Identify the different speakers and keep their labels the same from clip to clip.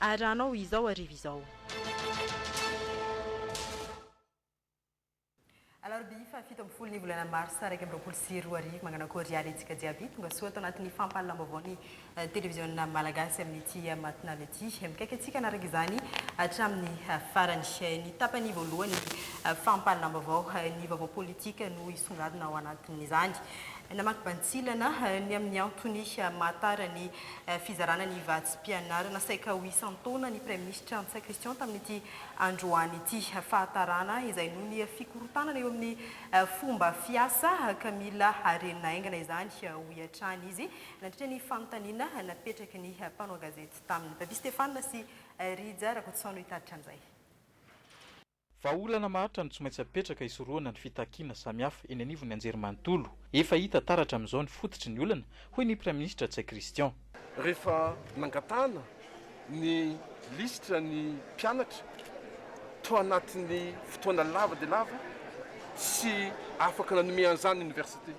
Speaker 1: Ary raha hanao izao hariva izao. Alarobia faha fito ambin'ny folo ny volana marsa iraika amby roapolo sy roa arivo. Mañana akory ary antsika jiaby. Tonga soa ato anatin'ny fampahalalam-baovao ny televiziona malagasy amin'ity matinale ity. Mikaiky antsika hanaraka izany hatramin'ny farany. Ny tapany voalohan'ny fampahalalam-baovao, ny vaovao politika no hisongadina ao anatin'izany. Namaky bantsilana ny amin'ny antony maha tara ny Fizarana ny vatsim-pianarana saika ho isan-taona ny Praiminisitra Ntsay Christian tamin'ity androany ity. Fahatarana izay noho ny fikorontanana eo amin'ny fomba fiasa ka mila harenina haingana izany, hoy hatrany izy nandritra ny fanontaniana napetraky ny mpanao gazety taminy. Babia Stéphane sy Rija Rakotoson no hitarika an'izay. Vahaolana
Speaker 2: maharitra no tsy maintsy apetraka hisorohana ny fitakiana samihafa eny anivon'ny anjerimanontolo. Efa hita taratra amin'izao ny fototry ny olana, hoy ny Praiminisitra Ntsay Christian. Rehefa
Speaker 3: nangatahana ny lisitra ny mpianatra tao anatin'ny fotoana lava dia lava tsy afaka nanome an'izany ny Oniversite.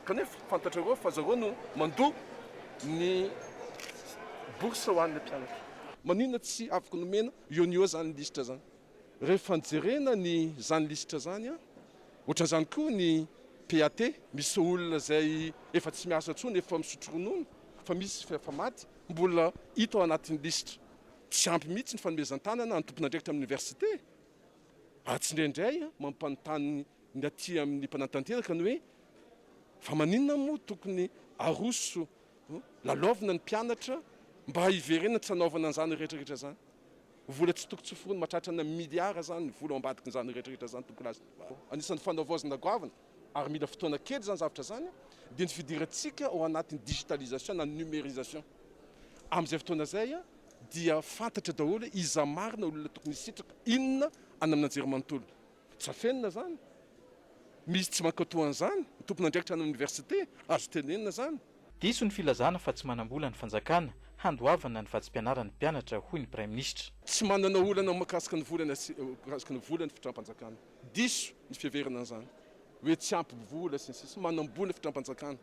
Speaker 3: Kanefa fantatrareo fa zareo no mandoa ny bourse ho an'ilay mpianatra. Maninona tsy afaka nomena Io anio zany lisitra zany. Rehefa nijerena ny zany lisitra zany an, ohatran'izany koa ny PAT, misy olona zay efa tsy miasa tsony, efa misotro ronono, fa misy efa maty, mbola hita ao anatin'ny lisitra. Tsy ampy mihitsy ny fanomezan-tanana ny tompon'andraikitra amin'ny université. Ary tsindraindray an, mampanontany ny aty amin'ny mpanatanteraka ny hoe, fa maninona moa tokony aroso Lalaovina ny mpianatra mba hiverenany tsy hanaovana an'izany rehetrarehetra izany. Vola tsy tokony tsy hoforony, mahatratra ana miliara izany ny vola ao ambadikin'izany rehetrarehetra izany tokony lasa. Anisan'ny fanavaozana goavana ary mila fotoana kely izany zavatra izany dia ny fidirantsika ao anatin'ny digitalisation na ny numérisation. Amin'izay fotoana izay dia fantatra daholo hoe iza marina olona tokony hisitraka, inona any amin'Anjerimanontolo. Tsy afenina zany. Misy tsy mankao toa an'izany. Ny tompon'andraikitra any amin'ny oniversite. Azo tenenina zany. Diso ny filazana
Speaker 2: fa tsy manam-bola ny fanjakana handoavana ny vatsim-pianaran'ny mpianatra, hoy ny Praiminisitra. Tsy manana olana
Speaker 3: mahakasika ny vola mahakasika ny vola ny fitram-panjakana. Diso ny fiheverana an'izany hoe tsy ampy vola sy ny sisa. Manam-bola ny fitram-panjakana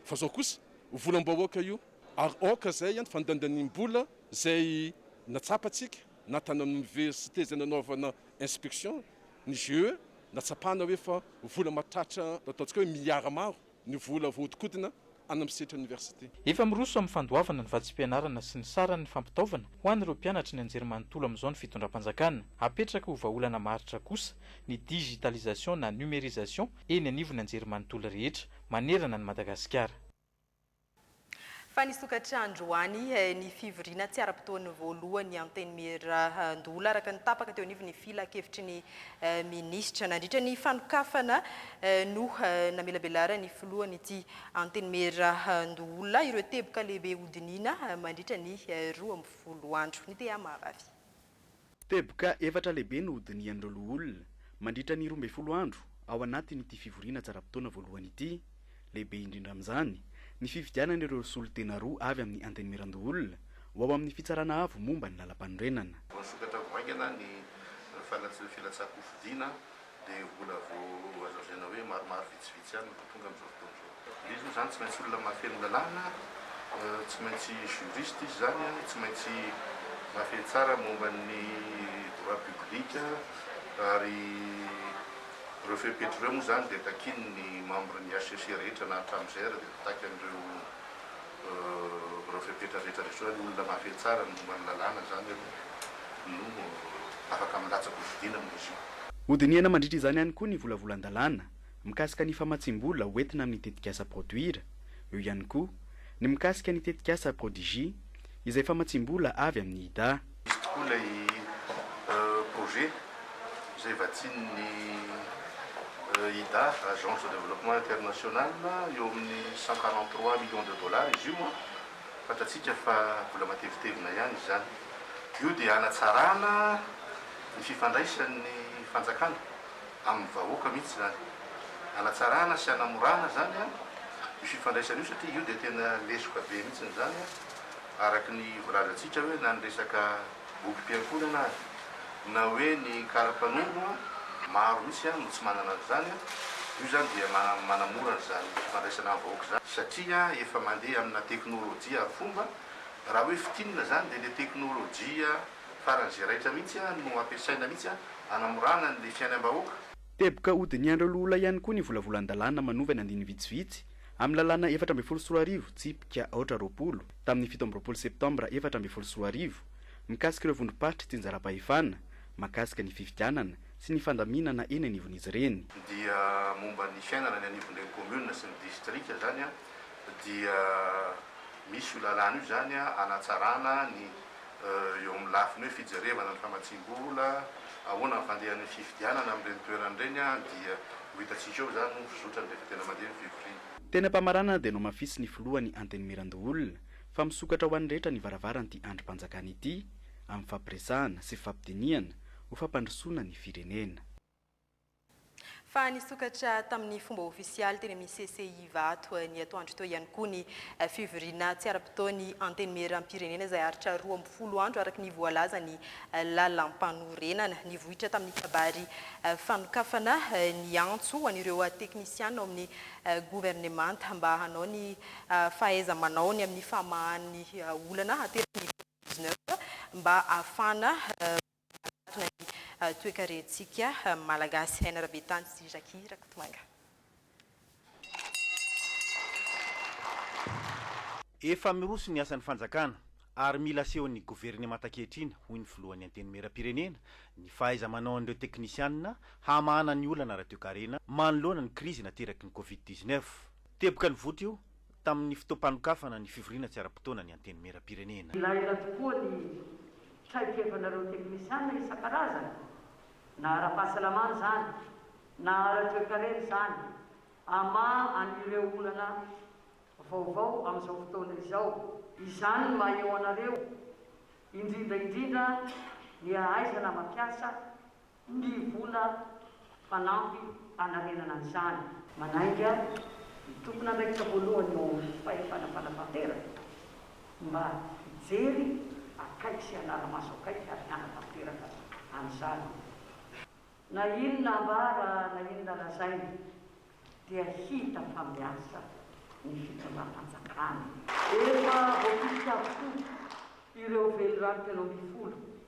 Speaker 3: fa izao kosa volam-bahoaka io ary aoka izay ny fandandaniam-bola izay natsapantsika. natanan'ny oniversite izay nanaovana inspection ny GE, nahatsapana hoe fa vola mahatratra ataontsika hoe milliards maro ny vola voahodikodina any amin'ny sehatry ny oniversite. Efa miroso amin'ny
Speaker 2: fandoavana ny vatsim-pianarana sy ny saran'ny fampitaovana ho an'ireo mpianatra ny anjerimanontolo amin'izao ny fitondram-panjakana. Hapetraka ho vahaolana maharitra kosa ny digitalisation na numérisation eny anivon'ny anjerimanontolo rehetra manerana an'i Madagasikara.
Speaker 1: Fa nisokatra androany ny fivoriana tsy ara-potoany voalohany Antenimierandoholona, araka ny tapaka teo anivon'ny filankevitry ny minisitra. Nandritra ny fanokafana no namelabelaran'ny filohan'ity Antenimierandoholona ireo teboka lehibe hodiniana mandritra ny roa ambin'ny folo andro. Ny Tehama Vavy. Teboka
Speaker 4: efatra lehibe no hodinihan'ireo loholona, mandritra ny roa ambin'ny folo andro ao anatin'ity fivoriana tsaram-potoana voalohany ity. Lehibe indrindra amin'izany, ny fifidianana ireo solontena roa avy amin'ny Antenimierandoholona ho ao amin'ny Fitsarana Avo momba ny Lalampanorenana. Voasokatra ho haingana
Speaker 5: ny fanatsofiana an-tsakofidina dia mbola vao hazavaina hoe maromaro vitsivitsy ihany no vao tonga amin'izao fotoana izao. Dia izy moa izany tsy maintsy olona mahafeno lalàna, tsy maintsy juriste izy izany, tsy maintsy mahafehy tsara momba ny droit public ary ireo fepetra ireo moa izany dia takian'ny membre-n'ny HCC rehetra na hatramin'izay ary dia takian'ireo Ireo fepetra rehetra rehetra hoe olona mahafehy tsara ny momba ny lalàna izany aloha no afaka milatsaka ho fidina amin'izy io. Hodinihana mandritra izany
Speaker 4: ihany koa ny volavolan-dalàna mikasika ny famatsiam-bola ho entina amin'ny tetikasa Produire, eo ihany koa ny mikasika ny tetikasa Prodigy izay famatsiam-bola avy amin'ny Ida. Misy tokoa ilay
Speaker 5: projet izay vatsian'ny IDA, Agence de Développement International, eo amin'ny cent quarante trois millions de dollars izy io. Fantatsika fa vola matevitevina ihany izany. Io dia hanatsarana ny fifandraisan'ny fanjakana amin'ny vahoaka mihitsy izany. Hanatsarana sy hanamorana izany io fifandraisana io satria io dia tena lesoka be mihitsy izany. araka ny voalazantsika hoe na ny resaka bokim-piankohonana aza na hoe ny kara-panondro maro mihitsy no tsy manana an'izany, io izany dia manamora an'izany fifandraisana amin'ny vahoaka izany satria efa mandeha amina teknolojia arifomba, raha hoe fintinina izany dia ilay teknolojia faran'izay raitra mihitsy no ampiasaina mihitsy hanamorana an'ilay fiainam-bahoaka. Teboka
Speaker 4: hodinihan'ireo loholay ihany koa ny volavolan-dalàna manovana andininy vitsivitsy Amin'ny lalàna efatra ambin'ny folo sy roa arivo, tsipika aotra roapolo, tamin'ny fito amby roapolo septambra efatra ambin'ny folo sy roa arivo, mikasika ireo vondrom-paritry tsinjaram-pahefana, mahakasika ny fifidianana sy ny fandaminana eny anivon'izy ireny. dia momba
Speaker 5: ny fiainana any anivon'ireny kaominina sy ny distrika izany, dia misy io lalàna io izany hanatsarana ny eo amin'ny lafiny hoe fijerevana ny famatsiam-bola, ahoana ny fandehan'ny fifidianana amin'ireny toerana ireny dia ho hitantsika eo izany ny fizotran'ny rehefa tena mandeha ny fivoriana. Teny am-pamaranana dia
Speaker 4: nohamafisy ny filoha ny Antenimierandoholona fa misokatra ho an'ny rehetra ny varavaran'ity andrim-panjakana ity amin'ny fifampiresahana sy fifampidinihana ho fampandrosoana ny firenena.
Speaker 1: Fa nisokatra tamin'ny fomba ofisialy teny amin'ny CCI Ivato ny atoandro teo ihany koa ny fivoriana tsy ara-potoan'ny Antenimierampirenena izay haharitra roa amby folo andro araka ny voalazan'ny lalampanorenana. Nivoitra tamin'ny kabary fanokafana ny antso ho an'ireo teknisiana ao amin'ny governemanta mba hanao ny fahaiza-manaony amin'ny famahan'ny olana ateraky ny Covid dix-neuf mba hahafahana Miarahaba ny toekarentsika Malagasy. Aina Rabetany sy Jackie Rakotomanga.
Speaker 6: Efa miroso ny asan'ny fanjakana ary mila asehon'ny governemanta ankehitriny, hoy ny filohan'ny Antenimierampirenena, ny fahaiza-manaon'ireo teknisianina hamahana ny olana ara-toekarena manoloana ny krizy nateraky ny Covid dix-neuf. Teboka ny vota io tamin'ny fotoam-panokafana ny fivoriana tsy ara-potoana ny Antenimierampirenena. Ilaina tokoa ny
Speaker 7: traikefanareo teknisiana isan-karazany, na ara-pahasalamana izany, na ara-toekarena izany, hamaha an'ireo olana vaovao amin'izao fotoana izao. Izany no maha-eo anareo, indrindra indrindra ny hahaizana mampiasa ny vola fanampy hanarenana an'izany. Manainga ny tompon'andraikitra voalohany eo amin'ny fahefana fanatanteraka mba hijery akaiky sy hanara maso akaiky ary hanatanteraka an'izany. Na inona ambara na inona lazaina dia hita fa miasa ny fitondram-panjakana. Efa voafidy avokoa ireo velirano telo ambin'ny folo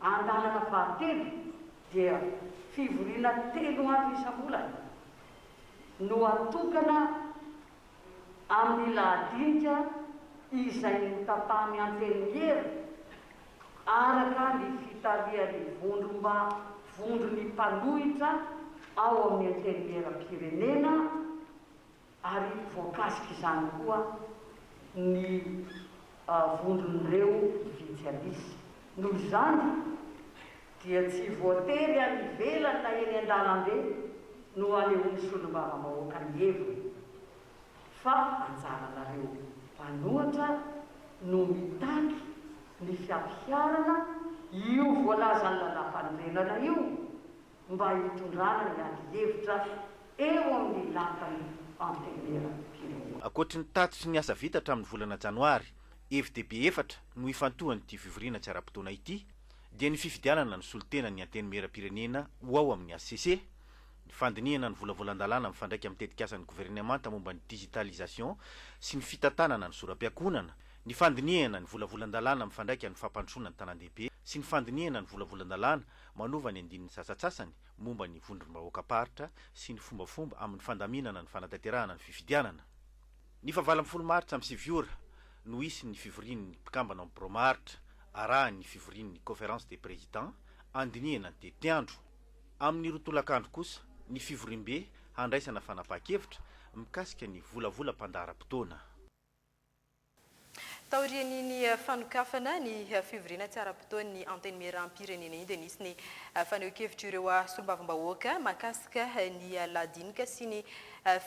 Speaker 7: Andalana fahatelo dia fivoriana telo andro isam-bolana no atokana amin'ny lahadinika izay notapahan'ny Antenimiera araka ny fitarihan'ny Vondromba Vondron'ny mpanohitra ao amin'ny Antenimieram-pirenena, ary voakasik'izany koa ny vondron'ireo Vityalis. Noho izany dia tsy voatery any ivelany na eny an-dalambe no hanehoan'ny solombavambahoaka ny heviny fa anjaranareo mpanohatra no mitaky ny fiampiharana io voalazan'ny lalàmpanorenana io, mba hitondrana ny adihevitra eo amin'ny lapan'ny Antenimieram-pirenena. Ankoatry ny tatitry
Speaker 6: ny asa vita hatramin'ny volana Janoary, hevi-dehibe efatra no ifantohan'ity fivoriana tsy ara-potoana ity, dia ny fifidianana ny solontenan'ny Antenimieram-pirenena ho ao amin'ny hcc, ny fandinihana ny volavolan-dalàna mifandraika amin'ny tetikasan'ny governemanta momba ny digitalisation sy ny fitantanana ny zoram-piakonana, ny fandinihana ny volavolan-dalàna mifandraika amin'ny fampandrosoana ny tanàndehibe sy ny fandinihana ny volavolan-dalàna manova ny andininy sasatsasany momba ny vondrom-bahoakam-paritra sy ny fombafomba amin'ny fandaminana ny fanatanterahana ny fifidianana. Ny faha valo ambin'ny folo martsa amin'ny sivy ora no hisy ny fivorian'ny mpikambana ao amin'ny birao maharitra, arahin'ny fivorian'ny Conférence des Présidents handinihana ny tetiandro. Amin'ny roa tolakandro kosa ny fivoriambe handraisana fanapahan-kevitra mikasika ny volavolam-pandaharam-potoana.
Speaker 1: Taorian'iny fanokafana ny fivoriana tsy ara-potoan'ny Antenimierampirenena iny dia nisy ny fanehoan-kevitra ireo solombavambahoaka mahakasika ny lahadinika sy ny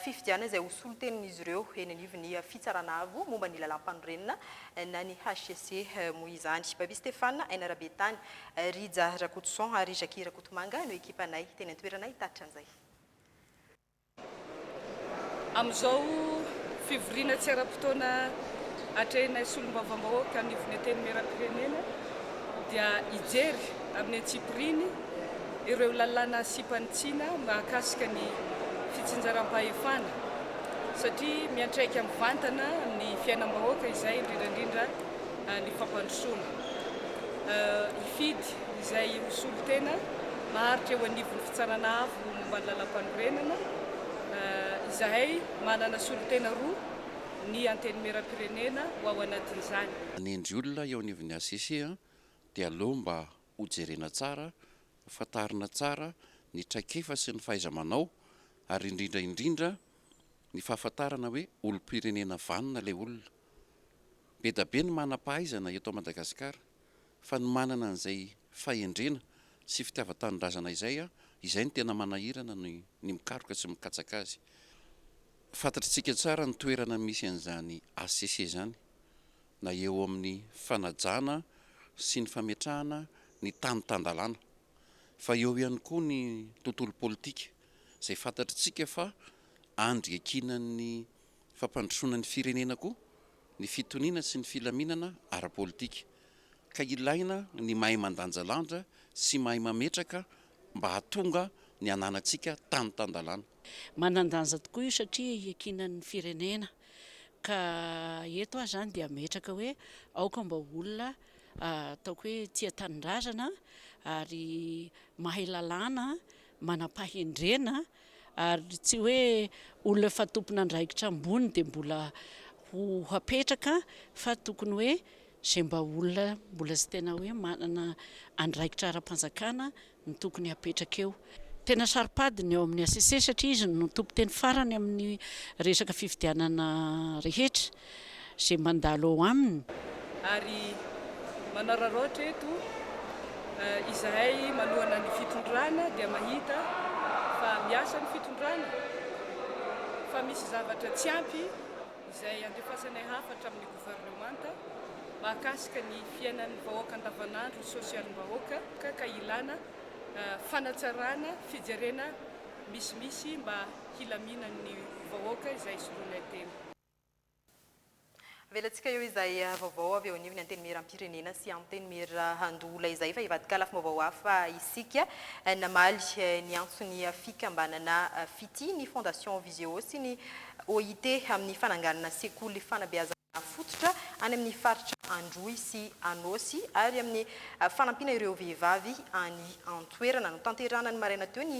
Speaker 1: fifidianana izay ho solontenin'izy ireo eny anivon'ny Fitsarana Avo momba ny Lalàmpanorenana na ny hcc moa izany. Babia Stéphane, Aina Rabetany, Rija Rakotoson ary Jacquie Rakotomanga no ekipanay teny an-toerana hitatitra an'izay.
Speaker 8: Amin'izao fivoriana tsy ara-potoana atrehinay solombavambahoaka anivon'ny Antenimierampirenena dia hijery amin'ny antsipiriany ireo lalàna sipanitsina mahakasika ny fitsinjaram-pahefana satria miantraika mivantana amin'ny fiainam-bahoaka izay indrindra indrindra ny fampandrosoana hifidy izay ho solontena maharitra eo anivon'ny fitsarana Ny momba ny Lalampanorenana, izahay manana solontena roa ny Antenimierampirenena ho ao anatin'izany. Manendry olona
Speaker 9: eo anivon'ny HCC dia aleo mba ho jerena tsara, ho fantarina tsara ny traikefa sy ny fahaiza-manao ary indrindra indrindra ny fahafantarana hoe olom-pirenena vanona ilay olona. Be da be ny manam-pahaizana eto Madagasikara. fa ny manana an'izay fahendrena sy fitiavan-tanindrazana izay a, izay no tena manahirana ny ny mikaroka sy mikatsaka azy. Fantatritsika tsara ny toerana misy an'izany HCC izany na eo amin'ny fanajana sy ny fametrahana ny tany tan-dalàna fa eo ihany koa ny tontolo politika izay fantatritsika fa andry iankinan'ny fampandrosoana ny firenena koa ny fitoniana sy ny filaminana ara-politika, ka ilaina ny mahay mandanjalanja sy mahay mametraka mba hahatonga ny hananantsika tany tan-dalàna. Manan-danja
Speaker 10: tokoa io satria hiakiana ny firenena, ka eto aho izany dia ametraka hoe aoka mba ho olona ataoko hoe tia tanindrazana, ary mahay lalàna, manam-pahendrena, Ary tsy hoe olona efa tompon'andraikitra ambony dia mbola ho hapetraka fa tokony hoe izay mba olona mbola tsy tena hoe manana andraikitra ara-panjakana no tokony hapetraka eo. Tena saro-pady ny ao amin'ny HCC satria izy no tompon-teny farany amin'ny resaka fifidianana rehetra. izay mandalo ao aminy. Ary
Speaker 8: manararaotra eto, izahay manohana ny fitondrana dia mahita fa miasa ny fitondrana, fa misy zavatra tsy ampy izay andefasanay hafatra amin'ny governemanta mahakasika ny fiainan'ny vahoaka andavanandro, sosialim-bahoaka, ka ilana fanatsarana, fijerena misimisy mba hilaminan'ny vahoaka izay soloinay tena.
Speaker 1: Avelantsika eo izay vaovao avy eo anivon'ny Antenimierampirenena sy Antenimierandoholona izay fa hivadika lafim-baovao hafa isika. Namaly ny antson'ny fikambanana Fitia ny Fondation Visio sy ny OIT amin'ny fananganana sekoly fanabeazana fototra any amin'ny faritra Androy sy Anôsy ary amin'ny fanampiana ireo vehivavy any an-toerana. Notanterahana ny maraina teo ny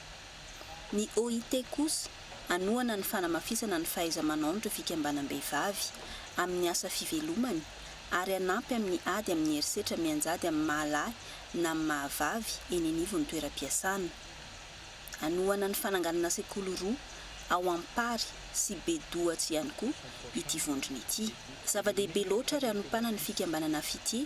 Speaker 11: Ny OIT kosa hanohana ny fanamafisana ny fahaiza-manaon'ireo fikambanam-behivavy amin'ny asa fivelomany ary hanampy amin'ny ady amin'ny herisetra mianjady amin'ny maha-lahy na amin'ny maha-vavy eny anivon'ny toeram-piasana. Hanohana ny fananganana sekoly roa ao Ampary sy Bedoatsy ihany koa ity vondrona ity. Zava-dehibe loatra ary hanompana ny fikambanana Fitie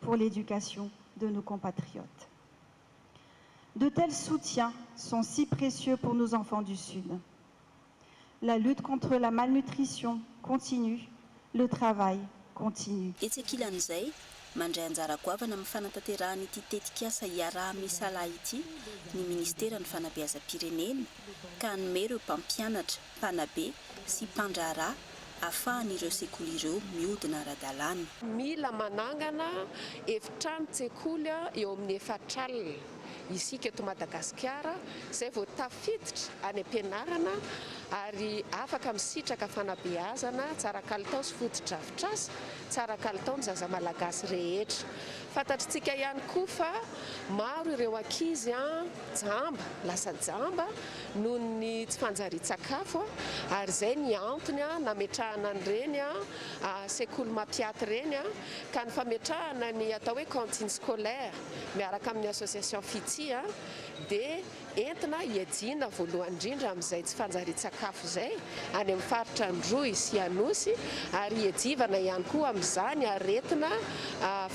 Speaker 12: pour l'éducation de nos compatriotes. De tels soutiens sont si précieux pour nos enfants du Sud. La lutte contre la malnutrition continue, le travail continue. Etsy ankilan'izay,
Speaker 11: mandray anjara goavana amin'ny fanatanterahana ity tetikasa iaraha-misalahy ity ny Ministeran'ny Fanabeazam-pirenena ka hanome ireo mpampianatra, mpanabe sy mpandraharaha ahafahan'ireo sekoly ireo mihodina ara-dalàna. Mila
Speaker 13: manangana efitrano tsekoly eo amin'ny efatra alina isika eto Madagasikara izay vao tafiditra any am-pianarana ary afaka misitraka fanabeazana tsara kalitao sy fotodrafitrasa tsara kalitao ny zaza malagasy rehetra. Fantatritsika ihany koa fa maro ireo ankizy. Jamba, lasa jamba noho ny tsy fanjarian-tsakafo ary izay ny antony nametrahana an'ireny sekoly mampiaty ireny ka ny fametrahana ny atao hoe cantine scolaire miaraka amin'ny association Fitia dia entina hiajiana voalohany indrindra amin'izay tsy fanjarian-tsakafo izay any amin'ny faritra Androy sy Anosy ary hiajivana ihany koa amin'izany aretina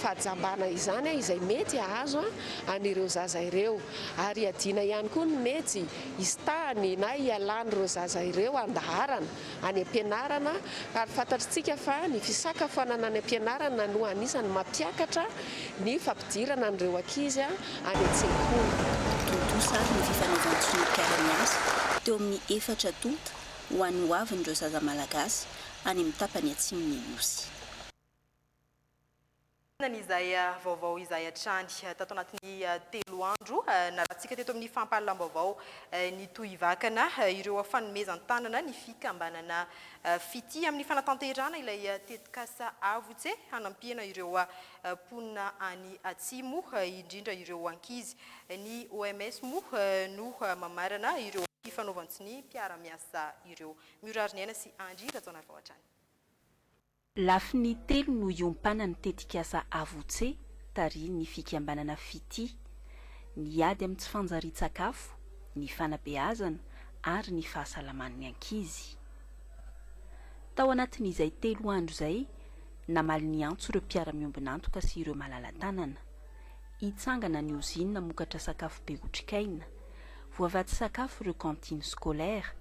Speaker 13: fahajambana izany izay mety hahazo an'ireo zaza ireo ary iadiana ihany koa ny mety hisitahany na hialan'ireo zaza ireo handaharana any am-pianarana ary fantatritsika fa ny fisakafoanana any am-pianarana no anisany mampiakatra ny fampidirana an'ireo ankizy any an-tsekoly. Tontosa ary
Speaker 11: ny fifanaovan-tsonia mpiara-miasa teo amin'ny efatra tonta ho an'ny ho avin'ireo zaza Malagasy any amin'ny tapany atsimon'ny Nosy.
Speaker 1: Inona izay vaovao izay hatrany? Tato anatin'ny telo andro nalatsika teto amin'ny fampahalalam-baovao ny Tohivakana ireo fanomezan-tanana ny fikambanana Fitia amin'ny fanatanterahana ilay tetikasa Avotse hanampiana ireo mponina any Atsimo indrindra ireo ankizy. Ny OMS moa no mamarana ireo fifanaovan-tsonia mpiara-miasa ireo. Miorary ny aina sy Andry Rajaonarivao hatrany.
Speaker 14: Lafiny telo no hiompanan'ny tetikasa Avotse tarihin'ny fikambanana Fitia, ny ady amin'ny tsy fanjarian-tsakafo, ny fanabeazana ary ny fahasalaman'ny ankizy. Tao anatin'izay telo andro izay, namaly ny antso ireo mpiara-miombon'antoka sy ireo malala-tanana. Hitsangana ny ozinina hamokatra sakafo be otrikaina. Voavatsy sakafo ireo cantines scolaires.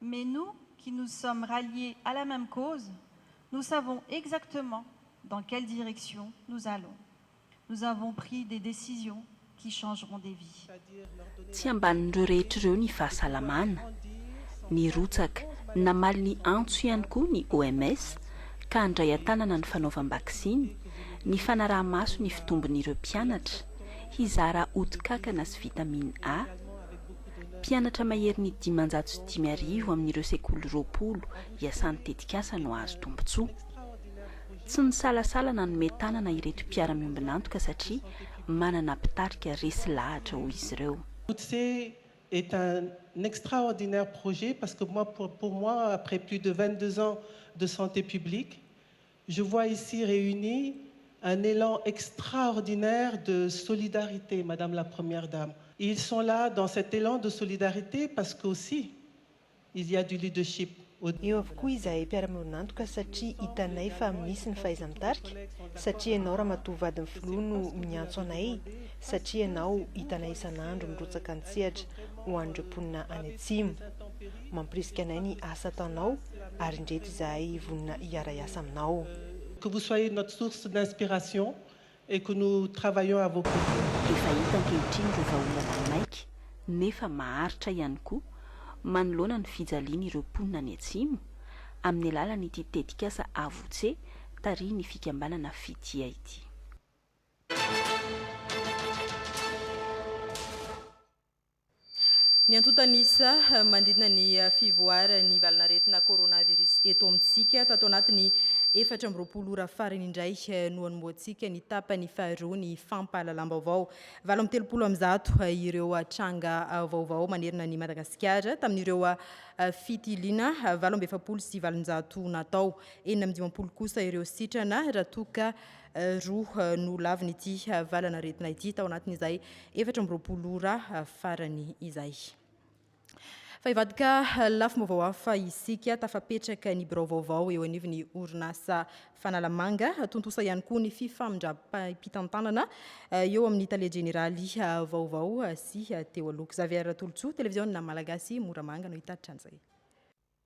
Speaker 12: Mais nous qui nous sommes ralliés à la même cause, nous savons exactement dans quelle direction nous allons. Nous avons pris des décisions qui changeront des vies. Tsy
Speaker 14: ambanin'ireo rehetra ireo ny fahasalamana. Nirotsaka namaly ny antso ihany koa ny OMS ka handray an-tanana ny fanaovam-baksiny, ny fanaraha-maso ny fitombon'ireo mpianatra, hizara ody kankana sy vitamine A, Mpianatra maherin'ny dimanjato sy dimy arivo amin'ireo sekoly roapolo iasan'ny tetikasa no hahazo tombontsoa. Tsy nisalasala nanome tanana ireto mpiara-miombon'antoka satria manana mpitarika resy lahatra hoy izy ireo. Utse
Speaker 15: est un extraordinaire projet parce que moi pour moi après plus de vingt deux ans de santé publique Je vois ici réunis un élan extraordinaire de solidarité, Madame la Première Dame. Ils sont là dans cet élan de solidarité parce qu'aussi il y a du leadership au Eo avokoa
Speaker 16: izahay mpiara-miorinantoka satria hitanay fa misy ny fahaiza-mitarika, satria ianao Ramatoa vadin'ny Filoha no miantso anay, satria ianao hitanay isan'andro mirotsaka an-tsehatra ho an'ireo mponina any Atsimo. Mampirisika anay ny asa ataonao ary indreto izahay vonona hiara-hiasa aminao. Que vous soyez
Speaker 15: notre source d'inspiration et que nous travaillons à vos côtés. Efa hita ankehitriny
Speaker 14: ireo vahaolana maika nefa maharitra ihany koa manoloana ny fijalian'ireo mponina any Atsimo, amin'ny alalan'ity tetikasa Avotse tarihin'ny fikambanana Fitia ity.
Speaker 1: Ny antontan'isa manodidina ny fivoaran'ny valan'aretina coronavirus eto amintsika. Tato anatin'ny efatra amby roapolo ora farany indray no hanombohantsika ny tapany faharoa ny fampahalalam-baovao. Valo amby telopolo amin'ny zato ireo tranga vaovao manerana an'i Madagasikara tamin'ireo fitiliana valo amby efapolo sy valonjato natao. Enina amby dimampolo kosa ireo sitrana raha toa ka Roa no lavin'ity valanaretina ity tao anatin'izay efatra amby roapolo ora farany izay. Fa hivadika lafim-baovao hafa isika, tafapetraka ny birao vaovao eo anivon'ny orinasa Fanalamanga. Tontosa ihany koa ny fifamindram-pitantanana eh, eo amin'ny tale jeneraly eh, vaovao eh, sy teo aloha. Xavier Tolotsoa, televiziona Malagasy, Moramanga no hitatitra an'izay.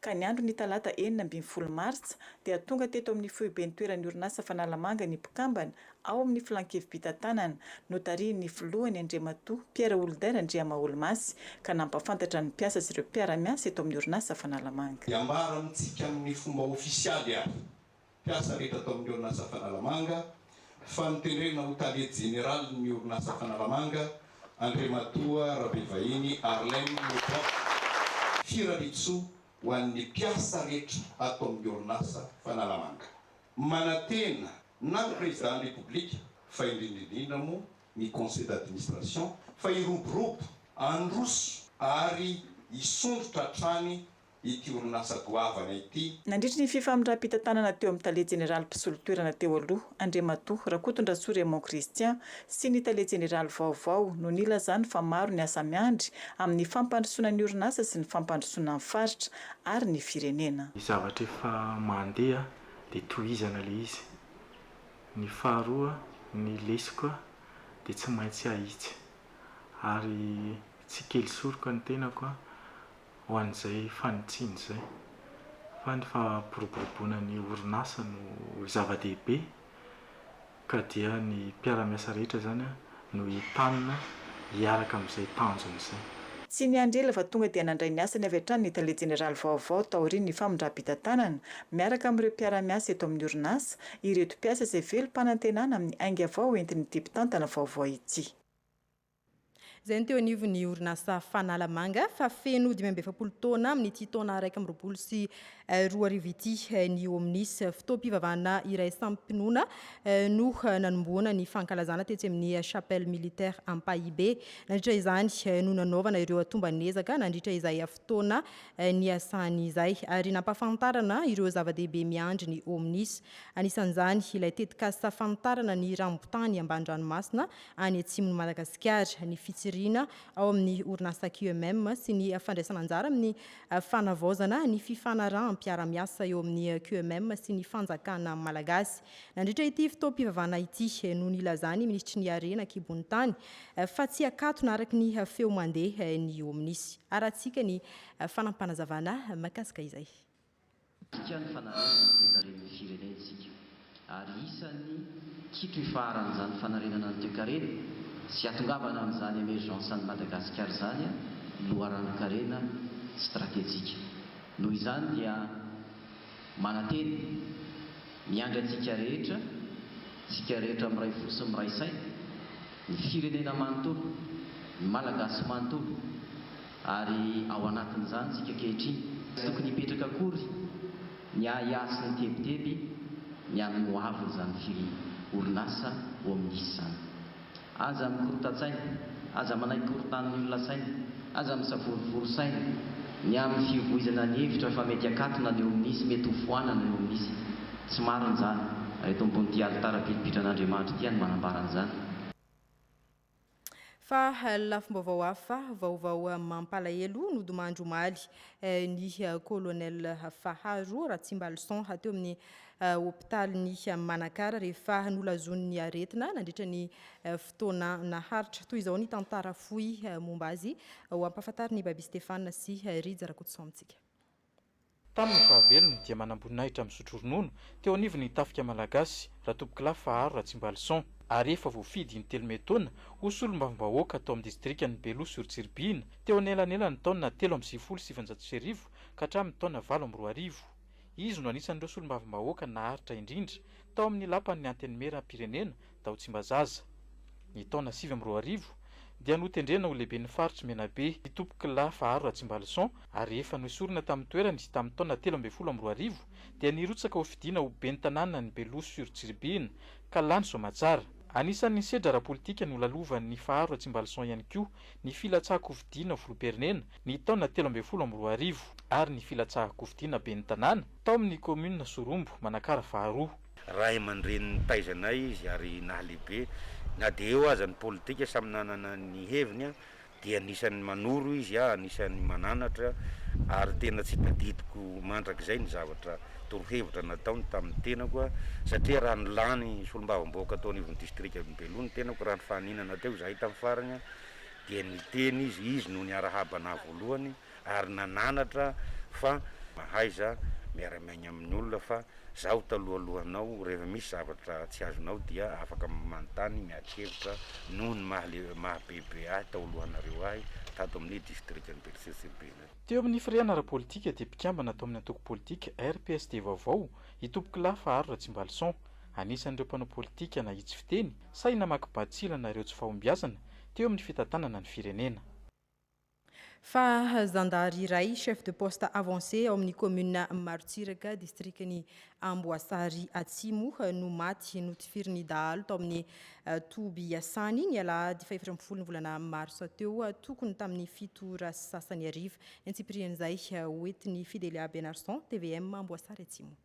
Speaker 17: ka ny andron'ny talata enina ambin'ny folo martsa dia tonga teto amin'ny foiben-toeran'ny orinasa Fanalamanga ny mpikambana ao amin'ny Filan-kevi-pitantanana notarihin'ny filohany Andriamatoa Pierre Holder Andriamahaolomasy ka nampahafantatra ny mpiasa sy ireo mpiara-miasa eto amin'ny orinasa Fanalamanga. Hiambara amintsika
Speaker 18: amin'ny fomba ofisialy ary mpiasa rehetra tao amin'ny orinasa Fanalamanga, fa notendrena ho tale jeneralin'ny orinasa Fanalamanga, Andriamatoa Rabevahiny Harlem Moubarak. Firariantsoa ho an'ny mpiasa rehetra ato amin'ny orinasa Fanalamanga. Manantena na ny Prezidan'ny Repoblika fa indrindra indrindra moa ny Conseil d'administration fa hiroborobo, handroso ary hisondrotra hatrany ity orinasa goavana ity. Nandritry ny fifamindram-pitantanana
Speaker 17: teo amin'ny tale jeneraly mpisolo toerana teo aloha, Andriamatoa Rakotondrasoa Raymond Christian sy ny tale jeneraly vaovao no nilazany fa maro ny asa miandry amin'ny fampandrosoana ny orinasa sy ny fampandrosoana ny faritra ary ny firenena. Ny zavatra efa
Speaker 19: mandeha dia tohizana ilay izy. Ny faharoa, ny lesoka dia tsy maintsy ahitsy. Ary tsy kely soroka ny tenako ho an'izay fanitsiana izay fa ny fampiroboroboana ny orinasa no zava-dehibe ka dia ny mpiara-miasa rehetra izany no entanina hiaraka amin'izay tanjona izay. Tsy niandry ela
Speaker 17: fa tonga dia nandray ny asany avy hatrany ny tale jeneraly vaovao taorian'ny famindram-pitantanana, miaraka amin'ireo mpiara-miasa eto amin'ny orinasa, ireto mpiasa izay velom-panantenana amin'ny ainga vao entin'ity mpitantana vaovao ity.
Speaker 1: izay no teo anivon'ny orinasa Fanalamanga fa feno dimy amby efapolo taona amin'ity taona iraika amby roapolo sy eh, roa arivo ity eh, ny Omnis fotoam-pivavahana iraisam-pinoana eh, no nanomboana ny fankalazana tetsy amin'ny chapelle militaire Ampahibe. Nandritra izany no nanaovana ireo atomban'ezaka nandritra izay fotoana niasany izay ary nampafantarana ireo zava-dehibe miandry ny Omnis. Anisan'izany ilay tetikasa fanitarana ny rambotany amban-dranomasina any atsimon'i Madagasikara, ny fitsiriana ao amin'ny orinasa QMM sy ny fandraisana anjara amin'ny fanavaozana ny fifanaraham-piarahamiasa eo amin'ny QMM sy ny fanjakana malagasy. Nandritra ity fotoam-pivavahana ity no nilazan'ny minisitry ny Harena an-kibon'ny tany fa tsy akatona araka ny feo mandeha ny OMNIS. Harahantsika ny fanampanazavanaa mahakasika izay. Midika
Speaker 20: ny fanarenana ny toekaren'ny firenena isika ary isan'ny kito ifaharan' izany fanarenana ny toekarena sy atongavana amin'izany emergence an'i Madagasikara izany ny loharanon-karena stratejika. Noho izany dia manantena, miandry antsika rehetra, tsika rehetra miray fo sy miray saina, ny firenena manontolo, ny Malagasy manontolo, Ary ao anatin'izany isika ankehitriny. Tsy tokony hipetraka akory ny ahiahy sy ny tebiteby ny amin'ny ho avin'izany firy orinasa ho amin'ny nisy izany. Aza mikorontan-tsaina, aza manaiky korontan'ny olona saina, aza misavorovoro saina ny amin'ny fihovoizana ny hevitra fa mety hakatona ny eo amin'ny nisy, mety ho foanana eo amin'ny nisy. Tsy marina izany, ary eto ambonin'ity alitara pilipitrana Andriamanitra ity aho no manambara an'izany.
Speaker 1: Fa lafim-baovao hafa, vaovao mampalahelo, nodimandry omaly ny Colonel Faharo Ratsimbalison teo amin'ny hopitalin'i Manakara rehefa nolazonin'ny aretina nandritra ny fotoana naharitra. Toy izao ny tantara fohy momba azy ho ampahafantarin'i Baby Stéphane sy Rija Rakotoson amintsika. Tamin'ny
Speaker 2: fahavelony dia manamboninahitra misotro ronono teo anivon'ny Tafika Malagasy, Ratompokolahy Faharo Ratsimbalison, ary efa voafidy in-telo may taona ho solombavambahoaka tao amin'ny distrikan'i Beloha sur Tsiribihina teo anelanelan'ny taona telo amby sivifolo sy sivinjato sy arivo ka hatramin'ny taona valo amby roa arivo. Izy no anisan'ireo solombavambahoaka naharitra indrindra tao amin'ny Lapan'ny Antenimieram-pirenena Tao Tsimbazaza, ny taona sivy amby roa arivo, dia notendrena ho lehiben'ny faritry Menabe i Topokolahy Faharo Ratsimbalison ary efa noesorina tamin'ny toerany tamin'ny taona telo ambin'ny folo amby roa arivo dia nirotsaka ho fidiana ho ben'ny tanànan'i Beloha sur Tsiribihina ka lany soamatsara. Anisan'ny nisedra ara-politika nolalovan'i Faharo Ratsimbalison ihany koa ny filatsahan-kofidiana ho filoham-pirenena ny taona telo ambin'ny folo amby roa arivo ary ny filatsahan-kofidiana ben'ny tanàna tao amin'ny kaominina Sorombo, Manakara faharoa. Ray aman-dreny
Speaker 21: nitaiza anay izy ary nahalehibe. Na dia eo aza ny politika, samy nanana ny heviny, dia anisan'ny manoro izy, anisan'ny mananatra, ary tena tsy tadidiko mandrakizay ny zavatra torohevitra nataony tamin'ny tenako, satria raha nilany solombavambahoaka tao anivon'ny distrikan'i Belo ny tenako, raha nifaninana teo izahay tamin'ny farany, dia niteny izy, izy no niarahaba anah voalohany, ary nananatra fa mahaiza miara-miaina amin'ny olona fa zaho talohalohanao rehefa misy zavatra tsy azonao dia afaka manontany miadi-kevitra noho ny maha bebe ahy tao alohanareo ahy tato amin'ny distrikan'i Berceau sur Bille. Teo amin'ny firehana
Speaker 2: ara-politika dia mpikambana tao amin'ny antoko politika RPSD vaovao i Tompokolahy Faharo Ratsimbalison. Anisan'ireo mpanao politika nahitsy fiteny sahy namaky batsilana ireo tsy fahombiazana teo amin'ny fitantanana ny firenena. Fa
Speaker 1: zandary iray, chef de poste avancé ao amin'ny commune Marotsiraka, distrikan'i Amboasary Atsimo, no maty notifirin'ny dahalo tao amin'ny eh, toby iasany ny alahady fahefatra ambin'ny folo ny volana marsa teo, eh, tokony tamin'ny fito ora sy sasany hariva. Ny antsipirian'izay, eh, hoentin'ny Fidelia Benarson, tvm Amboasary Atsimo.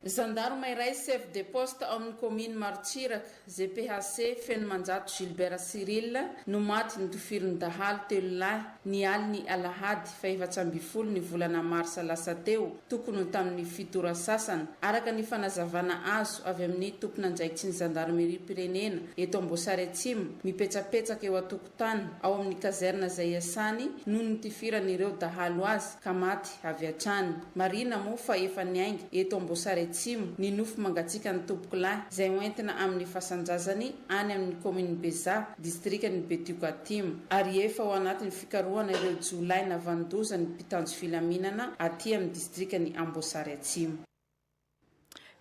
Speaker 1: Zandarma
Speaker 22: iray chef de poste ao amin'ny kaominy Marotsiraka, GPHC, Fenomanjato Gilbert Cyril no maty notofirin'ny dahalo telo lahy ny alin'ny alahady fahefatra ambin'ny folo ny volana marsa lasa teo, tokony ho tamin'ny fito ora sasany, araka ny fanazavana azo avy amin'ny tompon'andraikitry ny zandarimeriam-pirenena eto Amboasary Atsimo mipetrapetsaka eo an-tokotan'ny. tany ao amin'ny kazerna izay iasany noho ny nitifiran'ireo dahalo azy ka maty avy hatrany. Marihina moa fa efa niainga eto Amboasary Atsimo ny nofy mangatsiakan'ny tompokolahy izay hoentina amin'ny fasan-jazany any amin'ny kaominin'i Bezaha, distrikan'i Betioka Atsimo ary efa ao anatin'ny fikarohana ireo jiolahy navandoza ny mpitanjo filaminana aty amin'ny distrikan'i Amboasary Atsimo.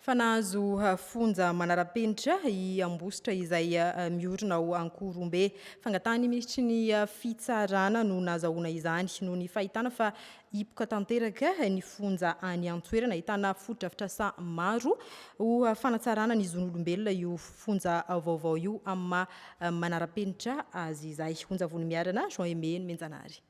Speaker 22: fa nahazo
Speaker 1: fonja manara-penitra i Ambositra izay miorina ao Ankorombe. Fangatahan'ny minisitry ny Fitsarana no nahazahoana izany noho ny fahitana fa hipoka tanteraka ny fonja any an-toerana. Ahitana fotodrafitrasa maro ho fanatsarana ny zon'olombelona io fonja vaovao io amin'ny maha manara-penitra azy izay. Onjavony Miarana, Jean Aimé Nomenjanahary.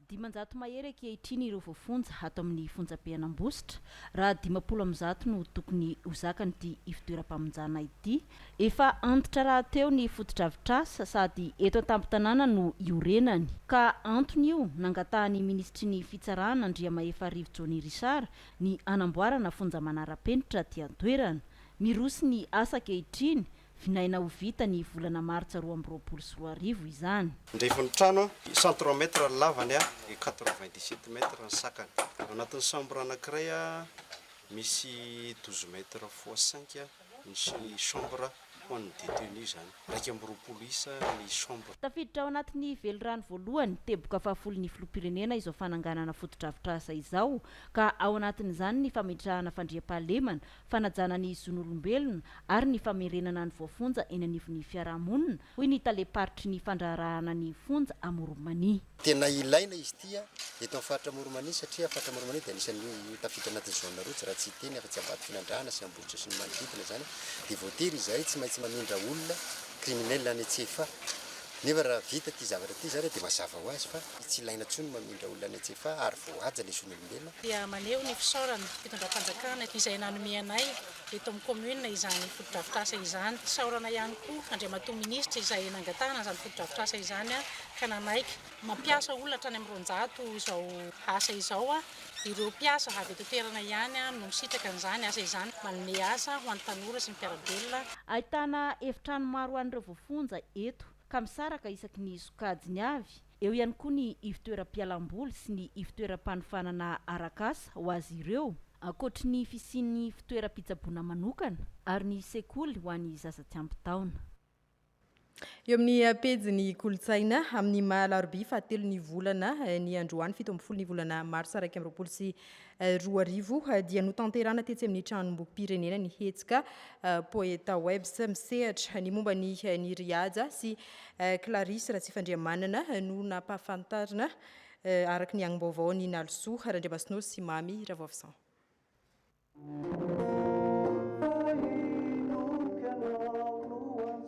Speaker 1: Dimanjato
Speaker 23: mahery ankehitriny ireo voafonja ato amin'ny fonjabe an'Ambositra, raha dimampolo amby zato no tokony ho zakan'ity ivotoeram-pamonjana ity. Efa antitra rahateo ny fotodrafitrasa sady eto an-tampon-tanàna no iorenany, ka antony io nangatahan'ny minisitry ny Fitsarana Andriamahefarivo Johnny Richard ny hanamboarana fonja manara-penitra aty an-toerana. Miroso ny asa ankehitriny, Vinaina ho vita ny volana martsa roa amby roapolo sy roa arivo izany. Andefon'ny trano an,
Speaker 24: i centre mètre ny lavany an, et quatre-vingt dix sept mètre ny sakany. Ao anatin'ny chambre anankiray an, misy douze mètre fois cinq ny chambre ho an'ny détenu izany. Iraika amby roapolo isa ny chambre. Tafiditra ao anatin'ny
Speaker 23: velirano voalohany, teboka fahafolon'ny filoham-pirenena izao fananganana fotodrafitrasa izao, ka ao anatin'izany ny fametrahana fandriampahalemana, fanajana ny zon'olombelona ary ny famerenana ny voafonja eny anivon'ny fiarahamonina, hoy ny talem-paritry ny fandraharahana ny fonja Amoron'i-Mania. Tena ilaina
Speaker 24: izy ity eto amin'ny faritra Amoron'i-Mania satria faritra Amoron'i-Mania dia anisan'ny ho tafiditra anatin'ny zone rotsy raha tsy hiteny afa-tsy Ambatofinandrahana sy Ambositra sy ny manodidina izany dia voatery izahay tsy maintsy mamindra olona criminel any Antsefa nefa raha vita ity zavatra ity izany dia mazava ho azy fa tsy ilaina intsony ny mamindra olona any Antsefa ary voahaja ilay zon'olombelona. dia maneho ny
Speaker 25: fisaorana fitondram-panjakana izay nanome anay eto amin'ny kaominina izany fotodrafitrasa izany. Isaorana ihany koa Andriamatoa Minisitra izay nangatahana izany fotodrafitrasa izany ka nanaiky. Mampiasa olona hatrany amin'ny roanjato izao asa izao. Ireo mpiasa avy eto an-toerana ihany no misitraka an'izany asa izany. Manome asa ho an'ny tanora sy ny mpiara-belona. Ahitana
Speaker 23: efitrano maro ho an'ireo voafonja eto ka misaraka isaky ny sokajiny avy Eo ihany koa ny ivtoeram-pialam-boly sy ny ivtoeram-panofanana arak'asa ho azy ireo, ankoatry ny fisian'ny fitoeram-pitsaboana manokana, ary ny sekoly ho an'ny zaza tsy ampy taona.
Speaker 1: Eo amin'ny pejin'ny kolontsaina, amin'ny maha alarobia fahatelo ny volana, ny androany fito ambin'ny folo ny volana marsa iraika amby roapolo sy Roa arivo dia notanterahana tetsy amin'ny Tranombokim-pirenena ny hetsika Poetawebs misehatra ny momba ny Nirry Haja sy Clarisse Ratsifandrihamanana no nampahafantarina araka ny angom-baovao an'i Nalisoa Randriamasinoro sy Mamy Ravoavison.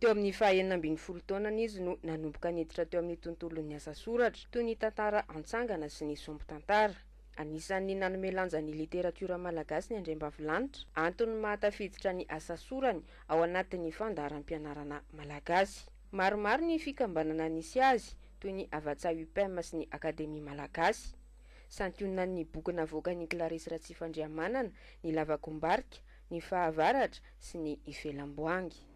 Speaker 3: Teo amin'ny fahenina ambin'ny folo taonany izy no nanomboka niditra teo amin'ny tontolon'ny asa soratra, toy ny tantara antsangana sy ny sombin-tantara. Anisan'ny nanome lanja ny literatiora malagasy ny Andriambavilanitra, antony mahatafiditra ny asa sorany ao anatin'ny fandaharam-pianarana malagasy. Maromaro ny fikambanana nisy azy, toy ny Havàtsa Upem sy ny Akademia Malagasy. Santionan'ny boky navoakan'i Clarisse Ratsifandrihamanana ny Lavakombarika, ny Fahavaratra sy ny Ifelamboangy.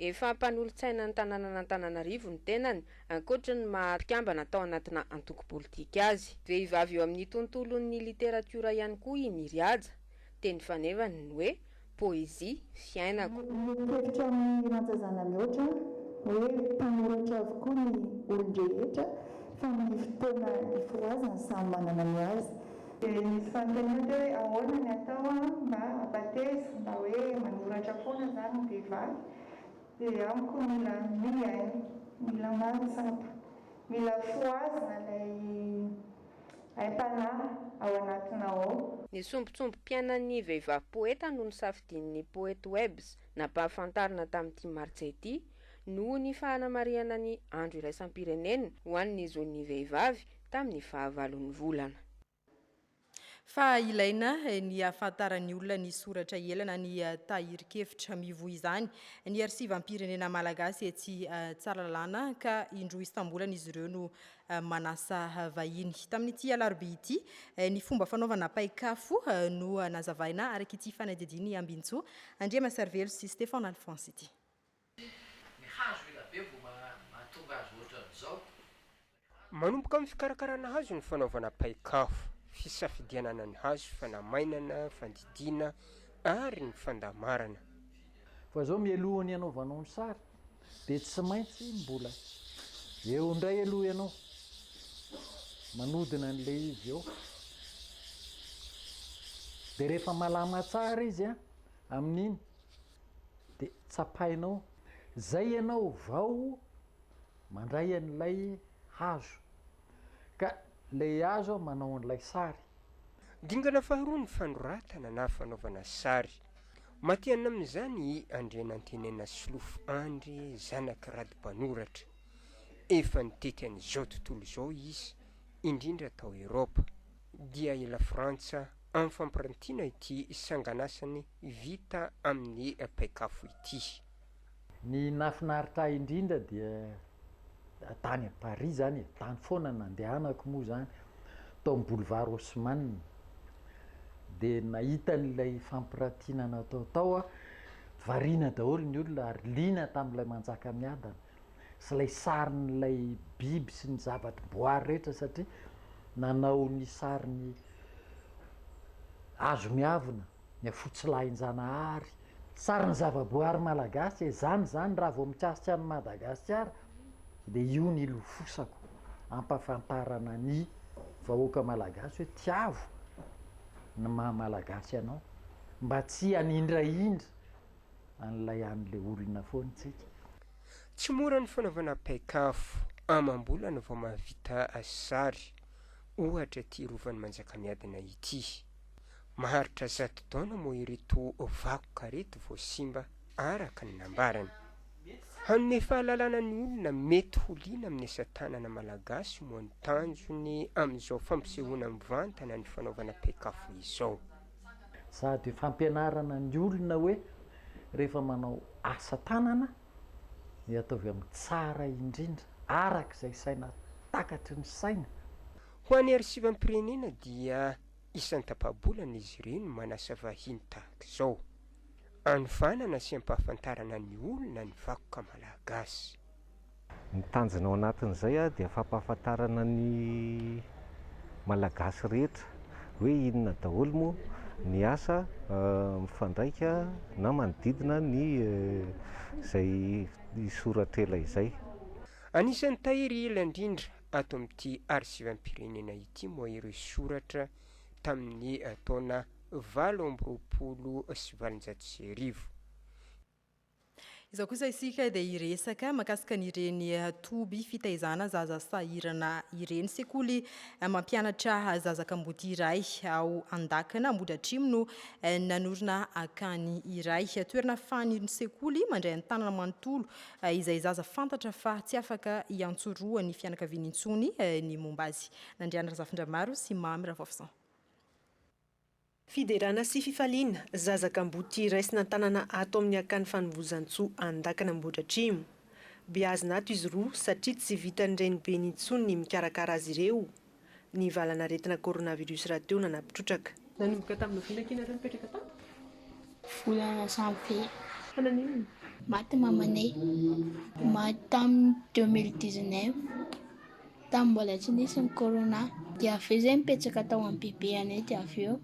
Speaker 3: Efa mpanolotsainan'ny tanànan'Antananarivo ny tenany, ankoatry ny maha mpikambana tao anatina antoko politika azy. Vehivavy eo amin'ny tontolon'ny literatiora ihany koa i Miry Haja. Teny fanevany ny hoe poezia, fiainako. Mitetika amin'ny
Speaker 4: Rajazana mihoatra hoe mpanoratra avokoa ny olon-drehetra fa ny fotoana ifohazany samy manana ny azy. Dia nisy fanontaniana teo hoe ahoana ny atao mba hampateza mba hoe manoratra foana zany ny vehivavy dia amiko mila mihaino, mila mahatsapa, mila fohazina ilay aim-panahy ao anatinao ao. Ny sombintsombim-piainan'ny
Speaker 3: vehivavy poeta no nosafidian'ny Poetwebs nampahafantarina tamin'ity Martsa ity, noho ny fanamarihana ny Andro iraisam-pirenena ho an'ny zon'ny vehivavy tamin'ny fahavalon'ny volana.
Speaker 1: Fa ilaina ny hahafantaran'ny olona ny soratra ela na ny tahirin-kevitra mivoy izany ny Arsivam-pirenena Malagasy etsy Tsaralalàna ka indroa isam-bolana izy ireo no manasa vahiny. Tamin'ity alarobia ity, ny fomba fanaovana paik'afo no nazavaina araka ity fanadihadian'i Ambinintsoa Andriamasarivelo sy Stéphane Alphonse ity. Ny hazo ela be vao
Speaker 5: mahatonga azy ohatran'izao. Manomboka amin'ny fikarakarana hazo ny fanaovana paik'afo, fisafidianana ny hazo, fanamainana, fandidiana ary ny fandamarana. Fa
Speaker 6: izao mialoha ny hanaovanao ny sary dia tsy maintsy mbola eo indray aloha ianao manodina an'ilay izy eo. Dia rehefa malama tsara izy amin'iny dia tsapainao, izay ianao vao mandray an'ilay hazo, ka ilay hazo manao an'ilay sary. Dingana
Speaker 5: faharoa ny fanoratana na fanaovana sary. Matihanina amin'izany i Andrianantenena Solofo Andry zanak'i Rado mpanoratra. Efa nitety an'izao tontolo izao izy, indrindra tao Eropa. dia i Lafrantsa amin'ny fampirantiana ity sanganasany vita amin'ny paik'afo ity. Ny
Speaker 6: nahafinaritra ahy indrindra dia tany à Paris zany e, tany foana nandehanako moa zany, tao amin'ny boulevard Haussmann, dia nahita an'ilay fampirantiana natao tao aho, variana daholo ny olona ary liana tamin'ilay Manjakamiadana. sy ilay sarin'ilay biby sy ny zava-boary rehetra satria nanao ny sarin'ny hazo miavona, ny afotsilahin-janahary, sarin'ny zava-boary malagasy e! zany zany raha vao mikasika an'i Madagasikara dia io no hilofosako hampafantarana ny vahoaka malagasy hoe tiavo ny maha malagasy anao mba tsy hanindrahindra an'ilay an'ilay olona foana isika. Tsy
Speaker 5: mora ny fanaovana paik'afo amam-bolana vao mahavita sary, ohatra ity Rovan'i Manjakamiadana ity. Maharitra zato taona moa ireto vakoka ireto vao simba, araka ny nambarany. Hanome fahalalana ny olona mety ho liana amin'ny asa tanana malagasy moa ny tanjony amin'izao fampisehoana mivantana ny fanaovana paik'afo izao. Sady
Speaker 6: fampianarana ny olona hoe rehefa manao asa tanana dia ataovy amin'ny tsara indrindra araka izay saina takatry ny saina. Ho an'ny
Speaker 5: Arsivam-pirenena dia isan-tapa-bolana izy ireny manasa vahiny tahaka izao, anovanana sy ampahafantarana ny olona ny vakoka malagasy. Ny
Speaker 7: tanjona ao anatin'izay dia fampahafantarana ny Malagasy rehetra hoe inona daholo moa ny asa mifandraika na manodidina ny izay soratra ela izay. Anisan'ny
Speaker 5: tahiry ela indrindra ato amin'ity arsivam-pirenena ity moa ireo soratra tamin'ny taona valo amby roapolo sy valonjato sy arivo.
Speaker 1: Izao kosa isika dia hiresaka makasika an'ireny toby fitaizana zaza sahirana ireny. Sekoly mampianatra zaza kamboty iray ao Andakana, Ambohidratrimo no nanorina akany iray. Toerana fahan'irony sekoly mandray an-tanana manontolo izay zaza fantatra fa tsy afaka hiantsoroha ny fianakaviany intsony ny momba azy. Nandriana Razafindramaro sy Mamy Ravaofisaon.
Speaker 16: Fiderana sy fifaliana, Zaza kamboty raisina an-tanana ato amin'ny Akany Fanovozantsoa Andakana Ambohidratrimo. Beazina ato izy roa satria tsy vitan'ny renibeny intsony ny mikarakara azy ireo, ny valan'aretina coronavirus rahateo nanapitrotraka. Nanomboka tamin'ny volana
Speaker 8: ity ianareo nipetraka tato? Volana
Speaker 9: janvier. Fa naninona no. Maty mamanay. Maty tamin'ny deux mille dix-neuf. Tamin'ny mbola tsy nisy ny corona dia avy eo izay nipetraka tao amin'ny BB anay dia avy eo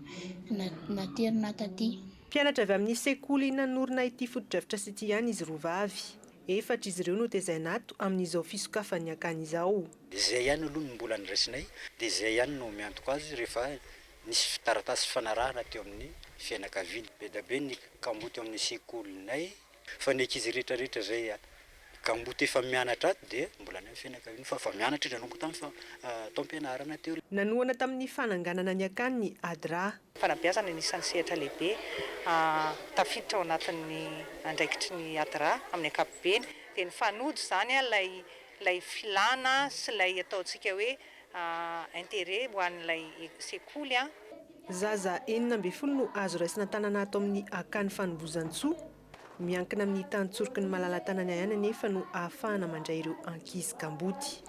Speaker 9: naterina taty. Mpianatra avy amin'ny
Speaker 16: sekoly nanorina ity fotodrafitrasa ity ihany izy roa vavy. Efatra izy ireo no tezaina ato amin'izao fisokafan'ny akany izao. Dia izay ihany aloha no
Speaker 10: mbola niraisinay dia izay ihany no miantoka azy rehefa nisy taratasy fifanarahana teo amin'ny fianakaviany. Be dia be ny kamboty ao amin'ny sekolinay. Fa ny ankizy rehetra rehetra zay gamboty efa mianatra ato dia mbola any amin'ny fianakaviana fa efa mianatra izy nanomboka tamin'ny taom-pianarana teo. Nanohana tamin'ny
Speaker 16: fananganana ny akany i Adra. Fanabeazana no isan'ny
Speaker 13: sehatra lehibe tafiditra ao anatin'ny andraikitry ny Adra amin'ny ankapobeny. Dia nifanojo izany ilay filana sy ilay ataontsika hoe intérêt ho an'ilay sekoly an. Zaza
Speaker 16: enina ambin'ny folo no azo raisina an-tanana ato amin'ny Akany Fanombohizantsoa. Miankina amin'ny tany tsoroky ny malala-tanana ihany anefa no ahafahana mandray ireo ankizy kamboty.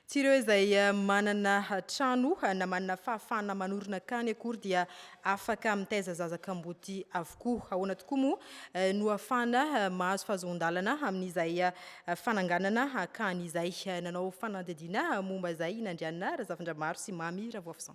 Speaker 1: Tsy ireo izay manana trano na manana fahafahana manorina akany akory dia afaka mitaiza zaza kamboty avokoa. Ahoana tokoa moa no afahana mahazo fahazoan-dalana amin'izay fananganana akany izay? Nanao fanadihadiana momba izay i Nandriana Razafindramaro sy Mamy Ravoafison.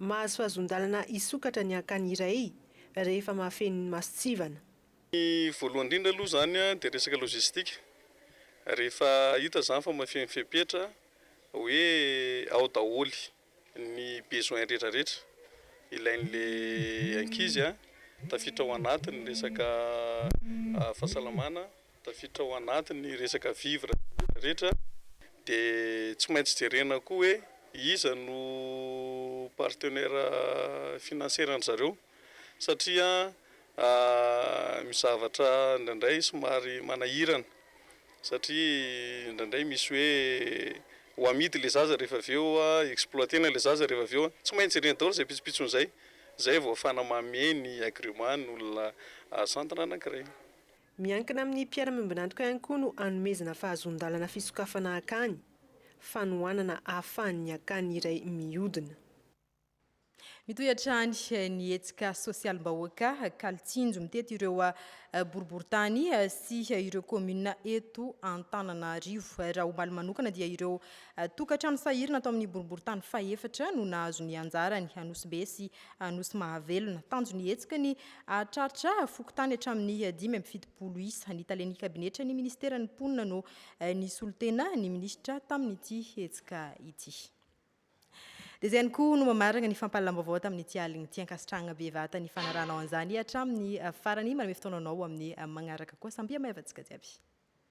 Speaker 26: Mahazoazon-dalana
Speaker 16: hisokatra ny hankany iray rehefa mahafeno ny mason-tsivana. Ny
Speaker 26: voalohany indrindra aloha izany dia resaka logistique. Rehefa hita izany fa mahafeno fepetra hoe ao daholo ny besoin rehetra rehetra ilain'ilay ankizy tafiditra ao anatiny ny resaka fahasalamana, Tafiditra ao anatin'ny resaka vivre rehetra rehetra dia tsy maintsy jerena koa hoe iza no partenaire financier an-dry zareo satria mizavatra indraindray somary manahirana satria indraindray misy hoe ho amidy ilay zaza rehefa avy eo exploiter-na ilay zaza rehefa avy eo. Tsy maintsy jerena daholo izay pitsopitsony izay, izay vao ahafahana mamehy ny agrément ny olona asantina anankiray. Miankina
Speaker 16: amin'ny mpiara-miombon'antoka ihany koa no hanomezana fahazoan-dalana fisokafana akany, fanohanana ahafahan'ny akany iray miodina. Mitohy
Speaker 1: hatrany ny hetsika sosialim-bahoaka kalo tsinjo mitety ireo boriborintany sy ireo kaominina eto Antananarivo. Raha omaly manokana dia ireo tokantrano sahirana tao amin'ny boriborintany fahefatra no nahazo ny anjarany, Anosibe sy Anosy Mahavelona. Tanjon'ny hetsika ny hahatraritra fokontany hatramin'ny dimy amby fitopolo isa. Ny talen'ny kabinetra ny ministeran'ny mponina no eh, nisolo tena ny minisitra tamin'ity hetsika ity. Dia izay ihany koa no mamarana ny fampahalalam-baovao tamin'ity alin'ny ity. Ankasitrahana bevata ny fanaranao an'izany hatramin'ny eh, farany. Manome fotoana anao amin'ny eh, magnaraka koa. Samby hamaivantsika jiaby.